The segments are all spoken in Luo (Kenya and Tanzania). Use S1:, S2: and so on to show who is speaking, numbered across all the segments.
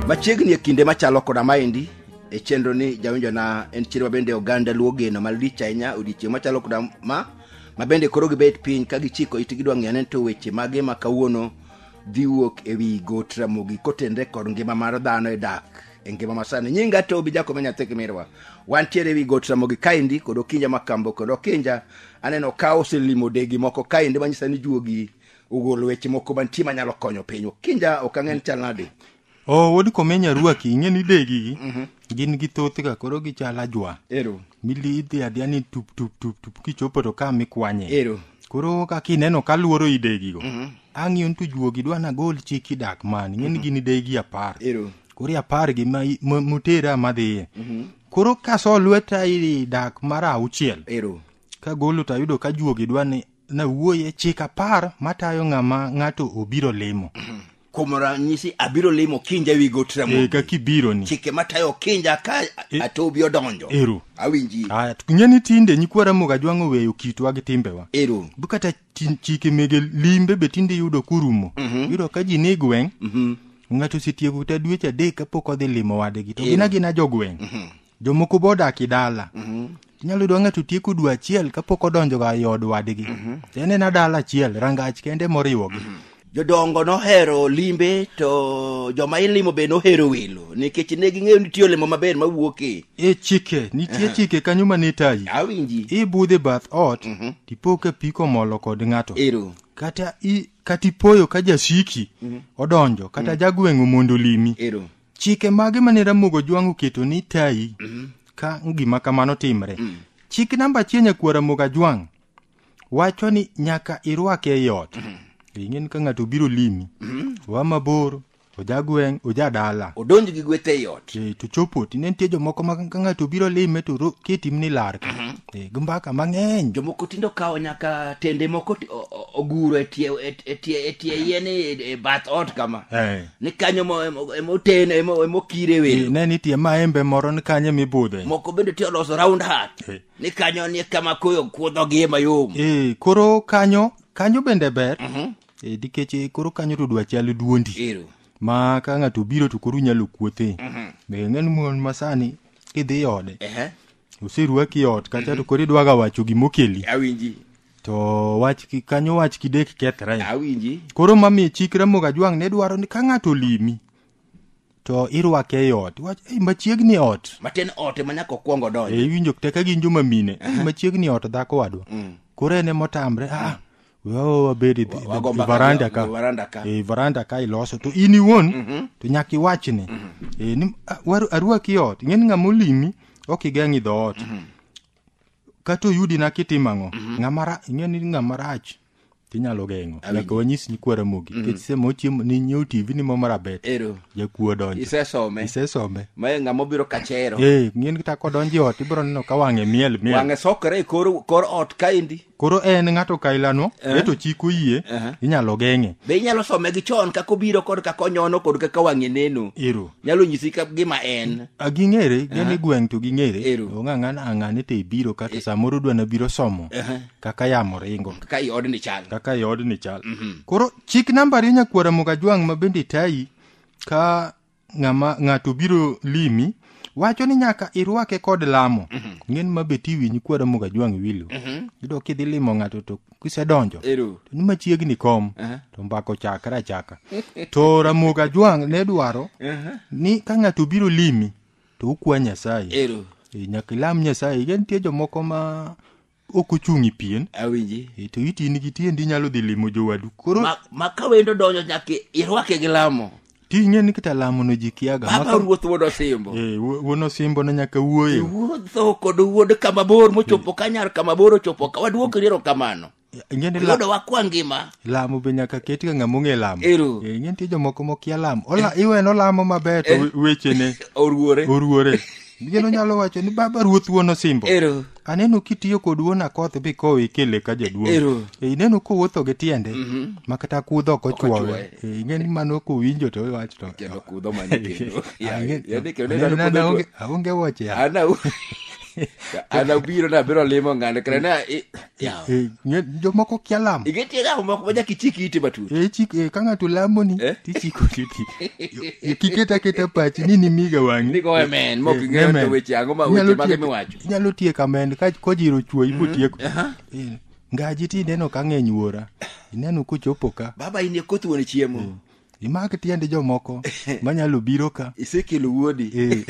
S1: machiegni e kinde machalo koda maendi e chenro ni jawinjona en chier mabende oganda luo geno malich ahinya odiechieng' machalo koda ma mabende koro gibet piny ka gichiko it gidwa ng'eyo ni to weche mage ma kawuono dhi wuok e wi got ramogi kotenre kod ngima mar dhano e dak e ngima masani nyinga to obi jakome nyathi kimirwa wantiere ewi got ramogi kaendi kod okinja makambo kod okinja aneno ka oselimo degi moko kaendi manyisa ni juogi ogolo weche moko mantie manyalo konyo piny okinja ok ang'e ni chal nade o wuod komenya
S2: ruaki ing'e ni degi gin gi thoth ga koro gichal ajwa ero mili
S1: idhi adhiya ni
S2: tup tup tup tup kichopo to ka mikwanye ero koro
S1: kaka ineno
S2: kaluoro idegigo ang'iyo ni to juogi dwa nagol chik idak mani ing'e ni gin idegi apar ero koro e apar
S1: gi ma-
S2: ma- motera madhiye koro kaso lweta i dak mar auchiel ero
S1: kagolo to ayudo
S2: ka juogi dwa ni nawuoye chik apar matayo ng'ama ng'ato obiro limo kuom ranyisi
S1: abiro limo kinja ewi got e, ramogi ka kibiro ni chike
S2: matayo kinja
S1: ka E- atobi odonjo Ero. awinji
S2: Aya, to
S1: ng'e ni tinde
S2: nyikwa ramoga jwang'o weyo kitwa gi timbewa ero bu kata
S1: Tin-
S2: chike mege limbe be tinde iyudo kurumo yudo ka ji ni gweng' ng'ato osetieko kata dweche adek kapok odhi limo wadgi to gina gina jogweng' jomoko be odak i dala inyalo yudo ng'ato tieko dwe achiel kapok odonjoga i od wadgi to en ena dala achiel rangach kende moriwogi jodongo
S1: nohero limbe to joma ilimo be nohero welo nikech ne ging'eyo nitie olemo maber mawuok e e chike nitie
S2: chike kanyo ma nitayi awinji ibudhe
S1: bath
S2: ot tipo ka pi komolo kod ng'ato ero kata
S1: i
S2: kata ipoyo ka jasiki odonjo kata jagweng'o mondo olimi ero chike
S1: mage mane
S2: ramogo jwang' oketo ni tayi ka gima kamano timre chik namba achiel nyakuo ramogo ajwang' wacho ni nyaka irwake ei ot ing'e ni ka ng'ato obiro limi oa mabor oja gweng' oja dala odonj gi gweth ei
S1: ot Eh, to chopo tinde nitie
S2: jomoko ma ka ng'ato obiro lime to ro- ketim ni lar ka Eh, gi mbaka mang'eny jomoko tindo kawo
S1: nyaka tende moko ti- o- o- oguro e tie e- e tie e tie yien e e bath ot kama Eh. ni kanyo mo- emo- emoten emo- emokire Eh, welo ne nitie maembe
S2: moro ni kanye mibudhe moko bende ti oloso
S1: round hat Eh, ni kanyo ni kama koyo kuodhogie mayom e koro kanyo
S2: kanyo bende ber e, nikech e, koro kanyo to dwa chal duondi ero ma
S1: ka ng'ato
S2: obiro to koro inyalo kuothe be ng'en mon masani kidhi ode ehe oserwaki ot kacha to koro idwaga wacho gimokeli awinji
S1: to wach
S2: ki- kanyo wach kidek kethre awinji koro
S1: mamiyo chik
S2: ramoga jwang' ne dwaro ni ka ng'ato olimi to irwake e ot iwach "Ei, machiegni ot matin ot ema nyaka
S1: okwongo donjo e iwinjo kata ka gin joma
S2: mine "Ei, machiegni ot dhako wadwa koro en emotamre ah wewa wabed e- e- Wago e mbaka varanda e- ka e varanda ka. e varanda ka iloso to in iwuon to nyaka iwachne e ni "Ah, waru- arwaki e ot ing'eni ng'ama olimi ok igeng' idho ot kata oyudina kitimo ang'o ng'ama ra- ing'eni ng'ama rach tinyalo geng'o Awinjo. nyaka wanyis nyikwa ramogi nikech sema ochiemo ni nyiew tv ni mama rabet ero jakuo
S1: donjo
S2: isesome isesome
S1: mae ng'ama obiro kachero ee ng'ien kata kodonjo
S2: e ot ibiro neno ka wang'e miel miel wang'e sokore e kor
S1: kor ot kaendi koro en ng'ato
S2: kailano eto chik oyie Aha. inyalo geng'e be inyalo some gi
S1: chon kaka obiro kod kaka onyono kod kaka wang'e neno ero nyalo nyisi
S2: ka- gima
S1: en A, ging'ere gin e
S2: gweng' to ging'ere Ero. ong'ang'an ang'ane to ibiro kata samoro dwa nabiro somo Aha. kaka yamo ringo kaka i odni chal
S1: kaka i odni chal koro chik
S2: namba ariyo nyakwara mugajwang' ma bende tayi ka ng'ama ng'ato biro limi wacho ni nyaka irwake kod lamo ng'en ma bet iwinyi kwara mugajwang' wilo yudo kidhi limo ng'ato to kisedonjo Ero. to ni machiegni kom Aha. to mbako chakre achaka to ramogi ajwang' ne dwaro ni ka ng'ato biro limi to ukwa nyasaye ero Eh, nyaka ilam nyasaye nitie jomoko ma ok ochung' i pien awinji e, to iti
S1: in gi
S2: tiendi inyalo dhi limo jowadu koro Ma- ma ka wendo donjo
S1: nyaka irwake gi lamo ti ing'e ni kata
S2: lamono ji kiaga baba Maka- ruoth wuod
S1: osimbo Eh, wuo- wuon osimbo
S2: ne nyaka wuoyo wuodho kod
S1: wuod kama bor mochopo kanyar kama bor ochopo ka waduok riero kamano ing'e ni la- yudo
S2: wakwa ngima
S1: lamo be nyaka ket
S2: ka ng'ama ong'e lamo Ero. Eh, ing'e nitie jomoko
S1: mokia
S2: lamo Ola- iwe nolamo maber to we- wechene oruore oruore Mieno nyalo wacho ni baba ruoth wuon osimbo. Ero. Aneno kitiyo kod wuon akoth bi kowo ikele ka jaduong'. Ero. E, ineno kowuotho gi tiende ma kata kudho ok ochuowe. ochuowe. E, ing'e ni mano kowinjo to iwacho to. Kendo kudho mane kendo.
S1: Ya, Ang'e-
S2: ya ni kendo
S1: aneno neno kudho nana aonge- aonge wuoche
S2: ya. Ana u-
S1: ana ubiro na biro limo ng'ano kare na i- Yawa. Eh, nye- jomoko
S2: kia lamo Igetie ga moko ma nyaka
S1: ichik iti matut. Eh, chik- eh, ka ng'ato
S2: lamoni Eh? tichiko titi kiketa keta pachi ni nimiga wang'i Nigo amen, mok Eh,
S1: ing'eyo amen. to weche ang'o ma Inyalo weche mage tiek- miwacho. inyalo tiek amen
S2: ka kojiro chuo ibotieko Aha. Eh, ngaji ti ineno ka ng'eny wuora ineno kochopo ka Baba in e koth wuon
S1: chiemo. imak tiend
S2: jomoko manyalo biro ka isekelo wuodi Eh,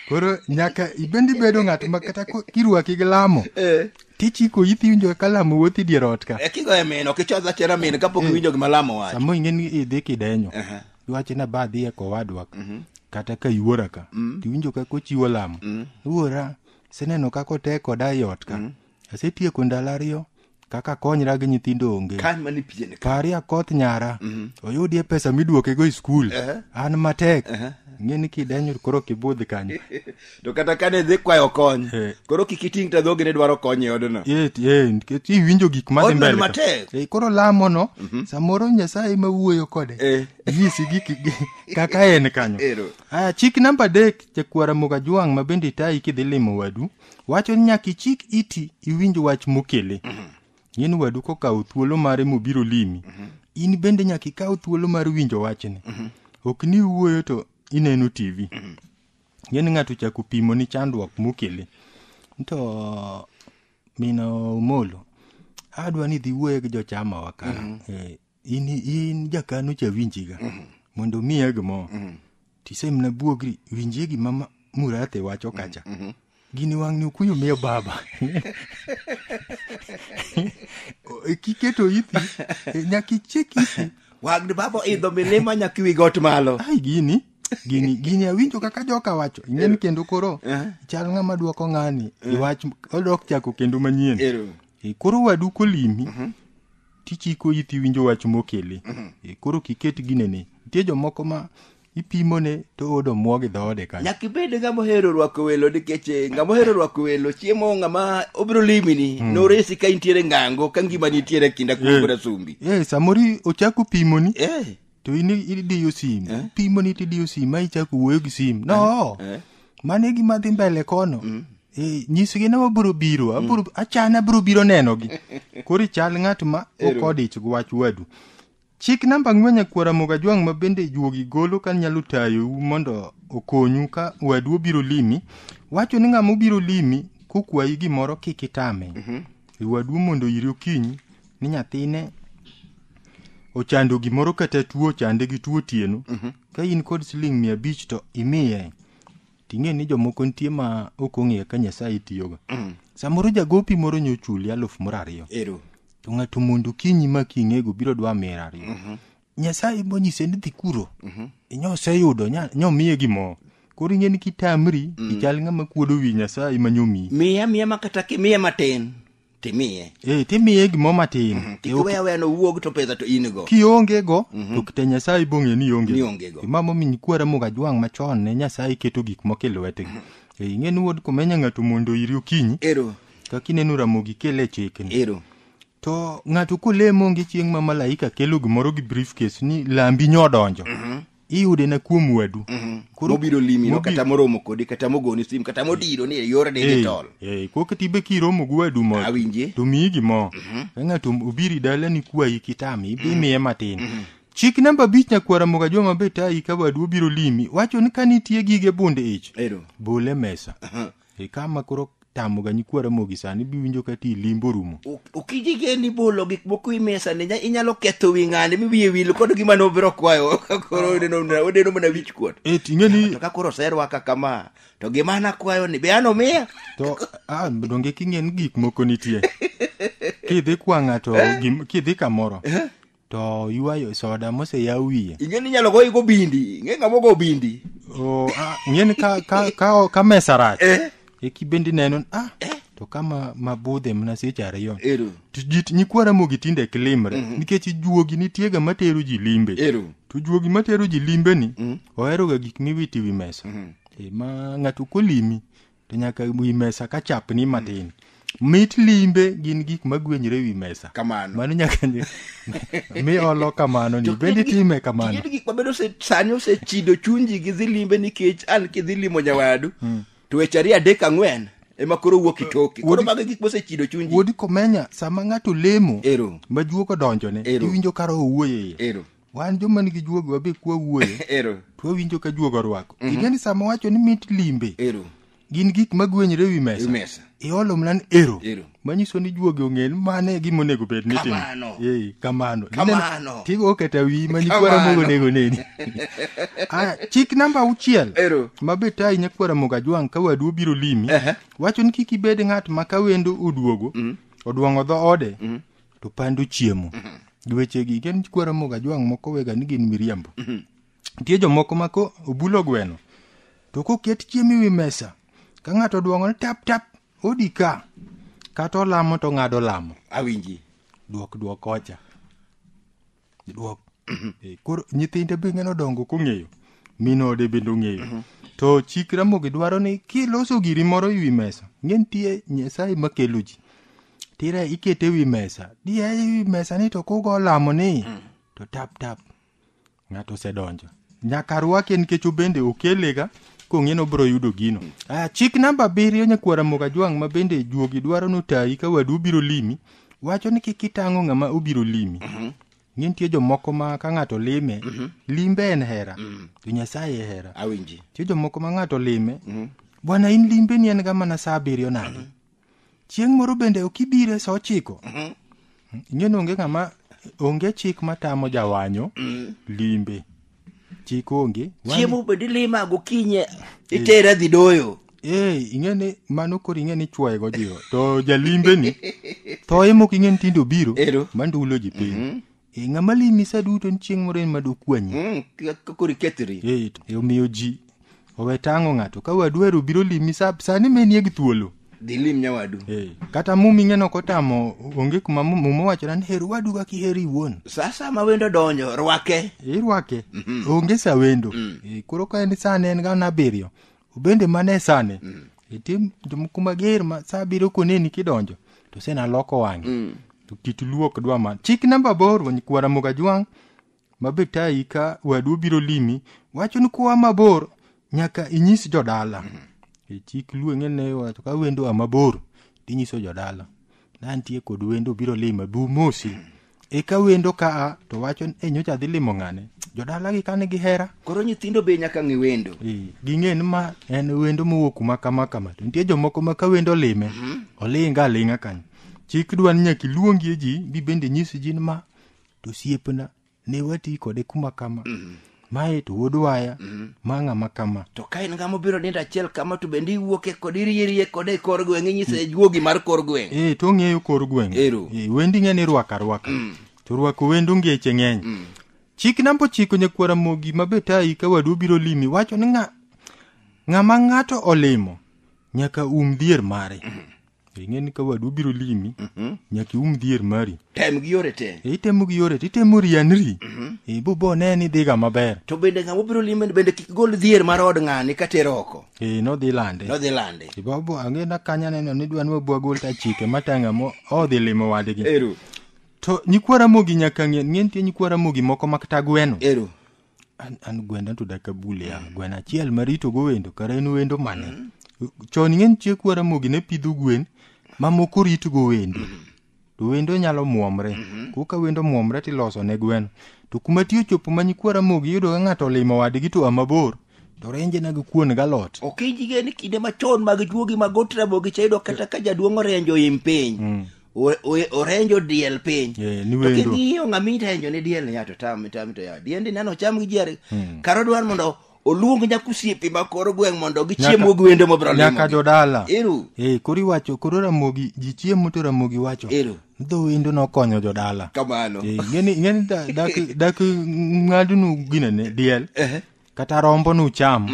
S1: koro
S2: nyaka ibende ibedo ng'at ma kata ko- kirwaki gi lamo Eh. tichiko ithi winjo ka lamo wuothi dier ot ka Eh, kigoye min ok ichodh
S1: achera min kapok iwinjo gima lamo wacho sama ing'e ni idhi
S2: kidenyo Aha. iwacho ni aba adhi e kowadwa ka kata ka iwuora ka tiwinjo ka kochiwo lamo iwuora seneno kaka otek koda e ot ka asetieko ndalo ariyo kaka konyra gi nyithindo onge kan mani pije ni pari
S1: akoth nyara
S2: oyudie pesa miduokego e skul Ehe. an matek ng'e ni kidenyo koro kibudh kanyo to kata kane
S1: dhi kwayo kony Eh. koro kik iting ta dhogi ne dwaro kony e odno Eh, eh, nikech
S2: iwinjo gik madhi Odno ni mbele ka. matek. Eh, koro lamono samoro nyasaye ema wuoyo kode Eh. nyisi gik gi- kaka en kanyo Ero. aya chik namba adek jakwara mogajwang' ma bende itayi kidhi limo wadu wacho ni nyaka ichik iti iwinj wach mokele ng'eni wadu kokawo thuolo mare mobiro limi in bende nyaka ikaw thuolo mar winjo wachni ok ni iwuoyo to ineno tv ng'eni ng'ato chako pimo ni chandruok mokele to mino omolo adwa ni dhi wuoye gi jochamawa ka Eh, in in jakano cha winjiga mondo miya gimoro tisemna buogri winjie gima ma- murate wacho kacha gini wang'ni okuyo miyo baba O- kiketo ithi e, nyaka ichek ithi wagni baba
S1: oidho milima nyaka iwi got malo ai gini
S2: gini gini awinjo kaka joka wacho ing'eni kendo koro Eh. chal ng'ama dwoko ng'ani iwach odok chako kendo manyien Ero. E, koro wadu kolimi tichiko iti winjo wach mokele e, koro kiket ginene nitie jomoko ma ipimone to odo muo gi dhoode kanyo nyaka ibed ng'ama ohero
S1: rwako welo nikech eh, ng'ama ohero rwako welo chiemo ng'ama obiro limini noresi ka intiere ngango ka ngima nitiere e kinda kuom Eh. brasumbi Eh, samoro ochako
S2: pimoni eh to in idiyo sim Eh? pimoni to idiyo sim ma ichako wuoyo gi sim no Eh? mano e gima dhi mbele kono Eh, nyisgi ni wabiro biro abiro- achana abiro biro nenogi koro ichal ng'at ma Ero. okodich gi wach wadu chik namba ang'wen nyakwara mogajwang' ma bende juogi golo ka nyalo tayou mondo okonyu ka wadu obiro limi wacho ni ng'ama obiro limi kokwayi gimoro kik itame wadu mondo iri okinyi ni nyathine ochando gimoro kata tuo ochande gi tuo otieno ka in kod siling mia abich to imiye ting'e ni jomoko nitie ma ok ong'eyo ka nyasaye tiyoga samoro jagopi moro nyochuli aluf moro ariyo ero to ng'ato mondo kinyi ma king'ego biro dwa mira ariyo nyasaye monyise ni dhi kuro inyose yudo nya- nyomiye gimoro koro ing'e ni kitamri ichal ng'ama kuodo wi nyasaye ma nyomiyi miya miya ma kata ki-
S1: miya matin timiye eh, timiye gimoro
S2: matin mm-hmm. kik iwe aweya nowuog
S1: to pesa to in go kionge go mm-hmm.
S2: to kite nyasaye bong'e ni onge nionge go imamo min kwara moga jwang' machon ne nyasaye keto gik moko e lwetgi mm-hmm. eh, ing'e ni wuod komenya ng'ato mondo iri okinyi ero kaka ineno ramogi kele e chikni ero to ng'ato kolemo onge chieng' ma malaika kelo gimoro gi briefcase ni lambi nyodonjo mm-hmm. iyude na kuom wadu mhm. koro biro limi
S1: no kata moromo kodi kata mogoni sim kata modiro ni e yor digital eh eh kok tibe
S2: kiromo gi wadu mo awinje to mi gi mo mhm. ka ngato obiri dala ni kwayi kitami bi mhm. miye matin chik namba bich nyakwara moga joma be tayi ka wadu obiro limi wacho ni ka nitie gige bunde ich bole mesa e kama koro tamo ga nyikwa ramogi sani biwinjo ka ti limbo rumo okijige ni
S1: bolo gik moko i mesa ni nya- inyalo ketho wi ng'ani mi wiye wil kod gima nobiro kwayo koro odeno mana- odeno mana wich kuot e ting'e ni to ka koro
S2: oserwaka
S1: kama to gima an akwayo ni be an omiya to ah,
S2: donge king'e ni gik moko nitie kidhi kwa ng'ato gim- kidhi kamoro to ywayo soda moseyaw wiye ing'e ni inyalo goyi go
S1: bindi ing'e ng'ama ogo bindi o ah, ing'e ni
S2: ka, ka, ka, ka mesa rach eh eki bendi neno ah, to ka ma- mabudhe mana seche ariyo ero to ji nyikwa ramogi tinde ok limre nikech juogi nitiega matero ji limbe ero to juogi matero ji limbeni oheroga gik miwito e wi mesa e, ma ng'ato kolimi to nyaka wi mesa ka chapni matin mit limbe gin gik magwenyre e wi mesa kamano mano nyaka mi olo kamano ni bende time kamano gin gik mabedo
S1: sani osechido chunji gi dhi limbe nikech an kidhi limo nyawadu hmm. to weche ariyo adek ang'wen ema koro wuok itoke koro mago gik mosechido chunji wuodi komenya sama
S2: ng'ato lemo ero majuok
S1: odonjone
S2: iwinjo karo owuoyo
S1: iye
S2: ero wan joma
S1: nigi
S2: juogi wabe kwa wuoyo ero to wawinjo
S1: ka juogo
S2: orwako ing'e ni sama wacho ni mit limbe ero gin
S1: gik
S2: magwenyre wi mesa imesa iolo mlan
S1: ero
S2: Ero. manyiso ni
S1: juogi ong'e
S2: ni mano e gima onego bed ni timo. Kamano. Eh, kamano
S1: Kamano.
S2: Ineno, tigo
S1: oketa wi ma
S2: nyikwara Kamano. mogo onego neni Ah, chik namba auchiel Ero. ma be tayi
S1: nyakwara
S2: mogo ajwang' ka wadu obiro limi Ehe. wacho ni kik ibed ng'at ma ka wendo oduogo odwong'o dho ode to pando chiemo gi wechegi ken kwara moga jwang' moko wega ni gin miriambo nitie jomoko ma ko obulo gweno to koket chiemo ewi mesa ka ng'ato dwong'o ni tap tap odi ka kata olamo to ng'ado lamo awinji
S1: dwok dwok
S2: ocha Dwok. Eh, Koro nyithinde be ng'ano dongo kong'eyo. Min ode bende ong'eyo. To chik Ramogi dwaro ni kiloso giri moro e wi mesa, ng'e nitie Nyasaye makelo ji. Tira ikete e wi mesa. Diya e wi mesa ni to kugo lamo ni. To tap tap. Ng'ato osedonjo. Nyaka rwake nikech obende okelega kong'e ni obiro yudo gino. Ah, chik namba abiriyo nyakwara Mogajwang' ma bende juogi dwaro notayi ka wadu obiro limi. wacho ni kik itang'o ng'ama obiro limi ni nitie jomoko ma ka ng'ato lime limbe en hera to nyasaye e hera awinji nitie jomoko ma
S1: ng'ato
S2: lime bwana in limbeni en ga mana sa abiriyo nadi chieng' moro bende ok ibire sa ochiko ing'e ni onge ng'ama onge chik matamo jawanyo limbe chik onge Wani- chiemo bende ilima
S1: gokinye itera dhi doyo ee ing'e ni
S2: mano koro ing'e ni chwoye go jiwo to jalimbeni thoye mok ing'e ni tinde obiro Ero. mandulo ji piny e ng'ama limi sa duto ni chieng' moro en madokwanyi Mm, kaka koro ikethri
S1: ee to- e omiyo ji
S2: owe tango ng'ato ka wadu ero biro limi sa- sani menie gi thuolo dhi lim nyawadu
S1: Eh, kata mumi
S2: ng'eno kotamo onge kuma mu- muma wachona ni her wadu kaka iheri iwuon sasa ma wendo
S1: donjo rwake irwake
S2: onge sa wendo Eh, koro ka en sane en gana abiriyo obende mana e sane itim tim kuma ger ma sa abiriyo koneni kidonjo to sena loko wang'e to kit luok dwa ma chik namba bor wany kwara moga jwang' ma be tayi ka wadu obiro limi wacho ni koa mabor nyaka inyis jodala e chik luo ng'e ne wacho ka wendo a mabor tinyiso jodala nantie kod wendo biro lima bi umosi eka wendo ka a to wacho ni e nyocha dhi limo ng'ane jodala gi kane gihera koro nyithindo be nyaka
S1: ng'e wendo Eh, ging'e ni ma
S2: en wendo mowuok kuma kama kama to nitie jomoko ma ka wendo olime olinga alinga kanyo chik dwa ni nyaka iluongie ji bi bende nyis ji ni ma to osiepna ne wati kode kuma kama mae to wuod waya ma ng'ama kama to ka in ng'ama obiro
S1: nindo achiel kama to bende iwuoke kode irierie kode e kor gweng' inyise juogi mar kor gweng' e to ong'eyo kor gweng'
S2: Ero. e, wendi ng'e ni rwaka rwaka to rwako wendo ngeche ng'eny chik namba ochiko nyakwara mogi ma be tayi ka wadu obiro limi wacho ni ng'a- ng'ama ng'ato olimo nyaka um dhier mare ing'e ni ka wadu biro limi nyaka ium dhier mari tem gi yore te
S1: E, itemo gi yore to itemo
S2: rianri e, bo bo ne ni dhiga maber to bende ng'ama obiro lime
S1: bende kik gol dhier mar od ng'ani ka tero oko e, nodhi lande nodhi
S2: lande E, bo bo ang'e na kanya neno ni dwa ni wabwa gol ta chike matanga mo odhi limo wadgi eru to nyikwa ramogi nyaka ng'e ng'e nitie nyikwa ramogi moko makta gweno eru an, an gwenda to dak abul ya gweno achiel maritogo wendo kara en wendo mane chon ing'eni chiek waramogi ne pidho gwen mamoko ritgo wendo to wendo nyalo muomre koka wendo muomre tiloso ne gweno to kuma ti ochopo ma nyikwa ramogi yudo ka ng'ato olimo wadgi to a mabor to renje na gi kuon galot ok ijige ni kinde
S1: machon mag juogi mag ot ramogi cha yudo kata ka jaduong' orenjo im piny o- o- orenjo diel piny Eh, ni To wendo. king'iyo ng'ama irenjo ne diel ya to tam tam to ya diende nano cham gi jare karo dwar mondo oluong nyakusiepe ma koro gweng' mondo gichiem Nyaka- ogwende mobro limo nyaka gi. jodala Ero.
S2: Eh, koro iwacho koro ramogi ji chiemo to ramogi wacho Ero. dho wendo nokonyo jodala kamano Eh, ngeni
S1: ngeni da-
S2: dak dak ng'adnu ginene diel Ehe. kata rombo nucham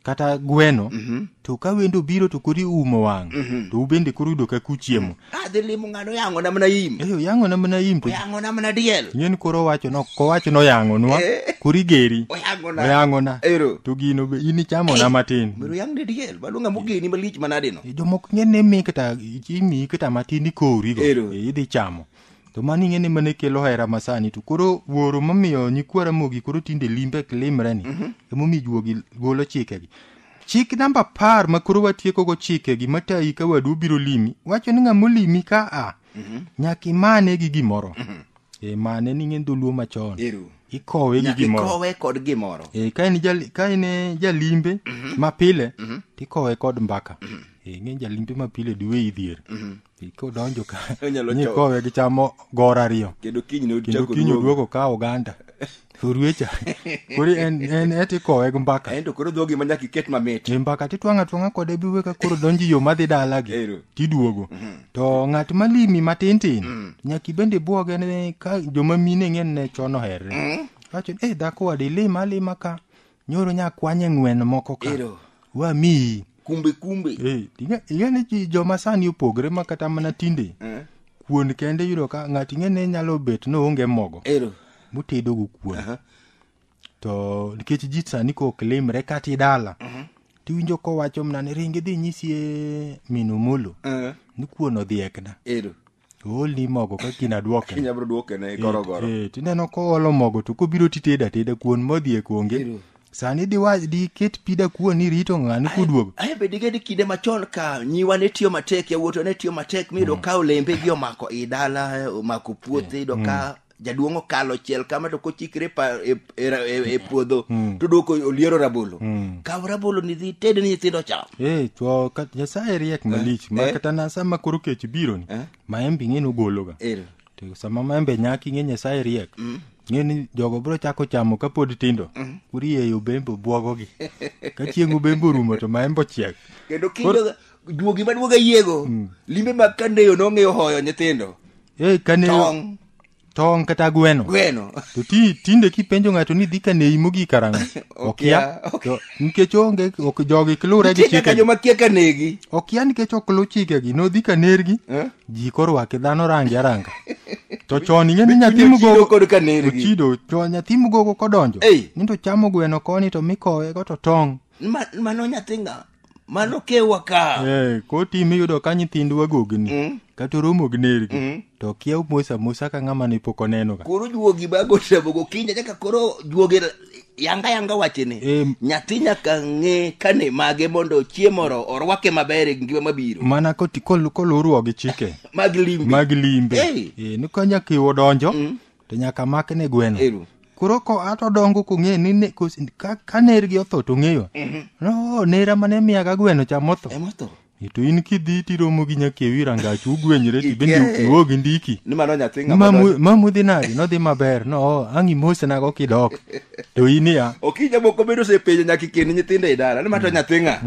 S2: kata gweno Mhm. to ka wendo biro to koro iumo wang' to ubende koro yudo kaka uchiemo adhi limo ng'ano
S1: yang'o na mana im eyo yang'o na mana im to
S2: oyang'o na mana diel
S1: ng'en koro owacho no
S2: kowacho noyang'onwa Eh. koro igeri oyang'o na oyang'ona ero to gino be in ichamona matin mero yang ne diel
S1: baluonga mogeni malich manadino jomoko ng'en ne mi kata
S2: imiyi kata matin ikowrigo Ero. idhi chamo to mano ing'e ni mane kelo hera masani to koro wuoro momiyo nyikwa ramogi koro tinde limbe limre ni emomiyo juogi golo chikegi chik namba apar ma koro watiekogo chikegi matayi ka wadu obiro limi wacho ni ng'ama olimi ka a nyaka imane gi gimoro e mane ni ng'en dholuo machon Ero. ikowe gi Nyaka gimoro ikowe kod gimoro.
S1: e, ka en jal- ka en
S2: eh, jalimbe mapile tikowe kod mbaka e, ng'eny jalimbe mapile duwe idhier kodonjo ka Onyalo nyi choko. kowe gi chamo gor ariyo kendo kiny ne kendo ochako
S1: kinyo duogo. duogo ka
S2: oganda orwecha kori en en eti kowe gi mbaka ento koro dhogi ma nyaka
S1: iket mamit e mbaka titwang'a twang'a
S2: kode biwe ka koro donji yo madhi dalagi Ero. tiduogo to ng'at malimi matin tin nyaka ibende bwoge ne ka joma mine ng'en ne chon oherre wacho ni eh dhako wadi lima alima ka nyoro nya kwanye ng'wen moko ka Ero. wamiyi kumbe kumbe Eh,
S1: ing'e- ing'e ni
S2: ji- joma sani opogre ma kata mana tinde Eh, kuon kende yudo ka ng'ato ing'e ni nyalo bet noonge mogo ero mutedogo kuon Aha. to nikech ji sani ko ok limre kata idala tiwinjo kowacho mna ni ringi dhi nyisi e min omolo Eh, ni kuon odhiekna ero oolni mogo ka kiny adwoke kinya bro duoke ne
S1: gorogoro Eh, eh, tineno koolo
S2: mogo to kobiro titeda teda kuon modhi e konge Ero. sani diwa- diket pi da kuon ni rito ng'ani kuduogo ae be digedi kinde
S1: machon ka nyiwa ne tiyo matek yawuoto ne tiyo matek miyudo ka olembe gi omako i dala omako puothe iyudo ka jaduong' okalo chiel kama to kochikre e pa- e- e ra- e- e puodho to dwoko oliero rabolo kaw rabolo ni dhi ted ni nyithindo cham Eh, to ka-
S2: nyasaye riek malich ma eh. kata na sama koro kech biro ni Eh. maembe ing'e nogologa Ero. to sama maembe nyak ing'e nyasaye riek ng'e ni jogo biro chako chamo kapod tindo urieyo bembe obwogogi ka chieng' ubembe orumo to maembe ochiek kendo kindoga
S1: duogi maduoga yiego limbe mag kandeyo nong'eyo hoyo nyithindo e kane
S2: tong tong kata gweno gweno to ti tinde kipenjo ng'ato ni dhi kaneyi mogik karang'o okia Okia, okia. To nikech onge ok jogi kilure gi nitie nyaka chikegi joma kia ka negi
S1: okia nikech ok
S2: luw chikegi nodhi kanergi Eh? ji korwake dhano range aranga to chon ing'e ni nyathi Chudo mugogo kod ka nergi ochido
S1: to nyathi
S2: mugogo kodonjo Ei. ni to chamo gweno koni to mikowe go to tong' Ma- mano nyathi
S1: nga mano kewa ka Eh, kotim iyudo
S2: ka nyithindwa gogni Mm. kata oromo gi nergi Mm. to kia mos amosa ka ng'ama ne pok onenoga koro juogi bago sebo
S1: gokinyi nyaka koro juogi yanga yanga wachene Em. nyathi nyaka ng'e kane mage mondo chiemo oro- orwake maber e ngima mabiro mana koti- kol-
S2: koluruo gi chike mag limbe mag limbe Hey. Eh, ni ka nyaka iwo donjo to nyaka make ne gweno Ero. koro ko ato odongo kong'eyo ni ne- kos- ka- ka nergi otho to ng'eyo no nera mane miyaga gweno cha motho Ema otho. to in kidhi tiromo gi nyakewi rangach ugwenyre ti bende Ikiaye. ukiwo gi ndiki Ni mano nyathi ng'ama Mamu-
S1: donjo. mamudhi nadi
S2: nodhi maber no ang' imosnago kidok to in ya okija moko bedo
S1: osepenjo nyaka ikend nyithindo e dala ni mato nyathi ng'a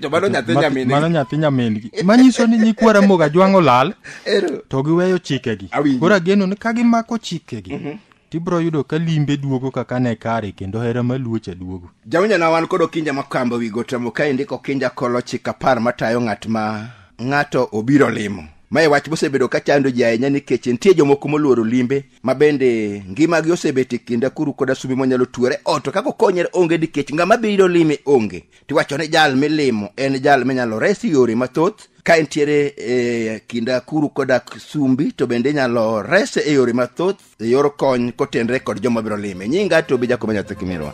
S1: to mano nyathi Ma- nyamin mano nyathi
S2: nyamingi manyiso ni nyikwa ramoga jwang' olal Ero. to giweyo chikegi Awinjo. koro ageno ni ka gimako chikegi tibiro yudo ka limbe duogo kaka ne kare kendo hera maluocha duogo jawinjana wan kod
S1: okinja makamba wi gotamo ka indiko okinja kolo chik apar matayo ng'at ma ng'ato obiro limo mae wach mosebedo ka chando ji ahinya nikech nitie jomoko moluoro limbe ma bende ngimagi osebet e kinda kuru koda sumbi monyalo tuore oto kaka okonyre onge nikech ng'ama biro lime onge tiwacho ni jal milimo en jal minyalo res yore mathoth ka entiere e kinda kuru koda sumbi to bende inyalo rese e yore mathoth e yor kony kotenre kod joma biro lime nyinga to bi jakobo nyathi kimirwa